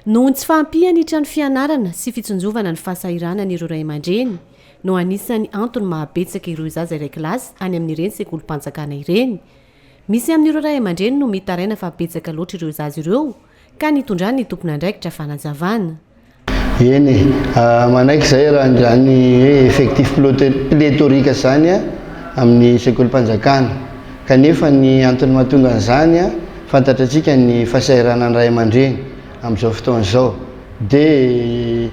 Noho ny tsy fahampian' ny trano fianarana sy fitsinjovana ny fahasahiranany ireo ray aman-dreny no anisan'ny antony maha betsaka ireo zaza iray kilasy any amin' ireny sekolim-panjakana ireny. Misy amin' ireo ray aman-dreny no mitaraina fa betsaka loatra ireo zaza ireo ka nitondran' ny tompon'andraikitra fanazavana. Eny e, manaiky izay raha izany hoe effectif pléthorique izany amin' ny sekolim-panjakana. Kanefa ny antony mahatonga an'izany, fantatrantsika ny fahasahiranan'ny ray aman-dreny amin'izao fotoana izao, dia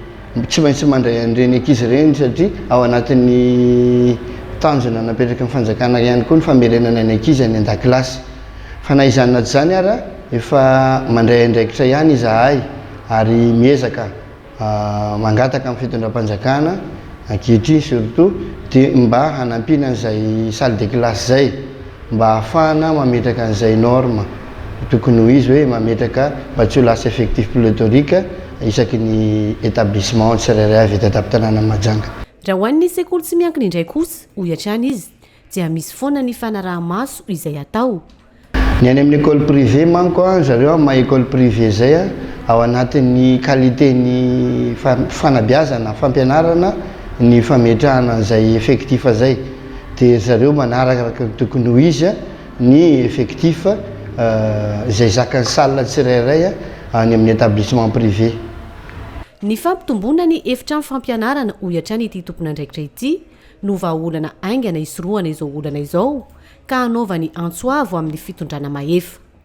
tsy maintsy mandray an'ireny ankizy ireny satria ao anatin'ny tanjona napetraky ny fanjakana ihany koa ny famerenana ny ankizy any an-dakilasy. Fa na izany na tsy izany ara, efa mandray andraikitra ihany izahay ary miezaka. mangataka amin'ny fitondram-panjakana ankehitriny surtout dia mba hanampiana an'izay salle de classe izay mba hahafahana mametraka an'izay norme tokony ho izy hoe mametraka mba tsy ho lasa effectif pléthorique isaky ny établissement tsirairay avy eto an-tampon-tanànan'i Mahajanga. Raha ho an'ny sekoly tsy miankina indray kosa, hoy hatrany izy, Dia misy foana ny fanaraha-maso izay atao. Ny any amin'ny école privée manko an, zareo amin'ny maha école privée izay an, ao anatin'ny qualité ny fanabeazana, fampianarana ny fametrahana an'izay effectif izay. Dia zareo manaraka araka ny tokony ho izy an, ny effectif izay zakan'ny salle tsirairay any amin'ny établissement privé. Ny fampitomboana ny efitrano fampianarana, hoy hatrany ity tompon'andraikitra ity, no vahaolana haingana hisorohana izao olana izao ka hanaovany antso avo amin'ny fitondrana mahefa.